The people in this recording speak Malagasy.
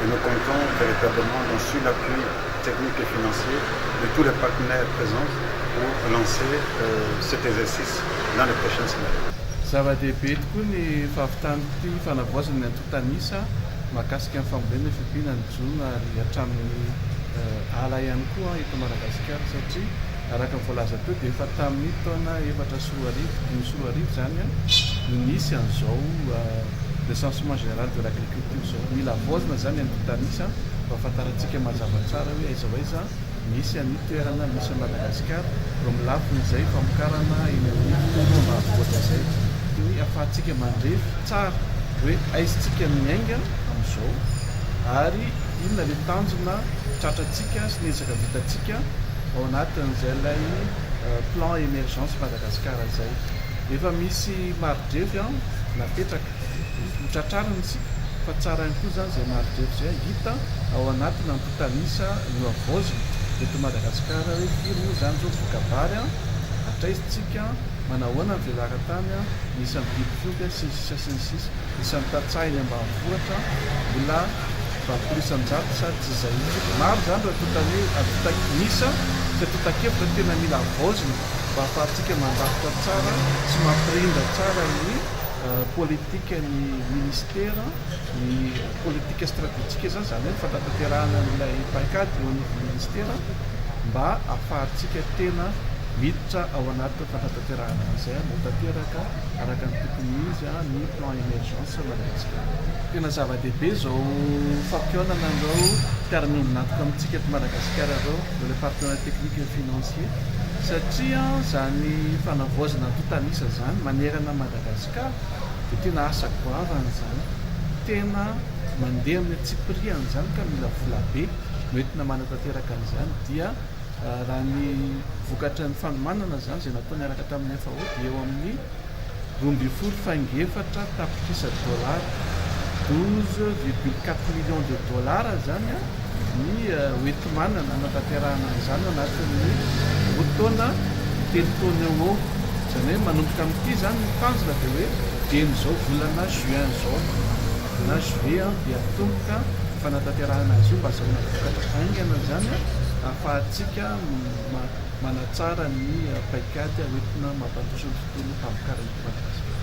et nous comptons véritablement dans sur l'appui technique et financier de tous les partenaires présents pour lancer cet exercice dans les prochaines semaines. Zava-dehibe tokoa ny fahavitan'ity fanavaozana ny antontan'isa mahakasika ny fambolena efa hiampina ny jono ary hatramin'ny ala ihany koa eto Madagasikara satria araka ny voalaza teo dia efa tamin'ny taona efatra sy roa arivo, dimy sy roa arivo izany an, no nisy an'izao recensement général de l'agriculture izao. Mila avaozina izany any Bitamis an, mba hahafantarantsika mazava tsara hoe aiza ho aiza misy an'io toerana misy an'i Madagasikara, eo amin'ny lafin'izay famokarana eny amin'ny tontolo ambanivohitra izay, dia hoe ahafahantsika mandrefy tsara hoe aiza isika miainga amin'izao ary inona ilay tanjona tratrantsika sy ny ezaka vitantsika ao anatin'izay ilay plan emergence Madagascar izay efa misy maridrefy an napetraka ho tratrarina isika fa tsara ihany koa zany zay maridrefy zay hita ao anaty nampitanisa no avaozina eto Madagascar hoe firy moa zany zao voka-bary an hatraizitsika manao ahoana ny velaran-tany an ny isan'ny biby fiompy an sy ny sisa sy ny sisa isan'ny tantsaha eny ambanivohitra mbola Zato isan-jato sa tsy izay mihitsy. Maro izany raha toa tany hoe ahavita isa sy totakevitra tena mila havaozina mba hahafahantsika mandrafitra tsara sy mampirindra tsara ny politikan'ny minisitera, ny politika stratejika izany, izany hoe ny fandratanterahana an'ilay paikady eo anivon'ny minisitera mba hahafahantsika tena miditra ao anatin'ny fandratanterahana an'izay, mba ho tanteraka araka ny tokony izy ny plan émergence. Tena zava-dehibe izao fampihaonana izao mpiara-miombon'antoka amintsika eto Madagasikara izao, le partenariat technique et financier, satria izany fanavaozana antontan'isa izany manerana an'i Madagasikara dia tena asa goavana izany, tena mandeha amin'ny antsipiriany izany ka mila vola be no entina manatanteraka an'izany dia raha ny vokatry ny fanomanana izany izay natao niaraka tamin'ny FAO dia eo amin'ny roa ambin'ny folo faingo efatra tapitrisa dollars, douze virgule quatre millions de dollars, izany ny hoenti-manana hanatanterahana an'izany ao anatin'ny fotoana telo taona eo ho eo. Izany hoe manomboka amin'ity izany ny tanjona dia hoe dian'izao volana juin izao na juillet dia hatomboka ny fanatanterahana azy io mba hahazoana vokatra haingana izany ahafahantsika manatsara ny paikady hoentina mampandroso ny tontolo famokaran'ny mpanjaka.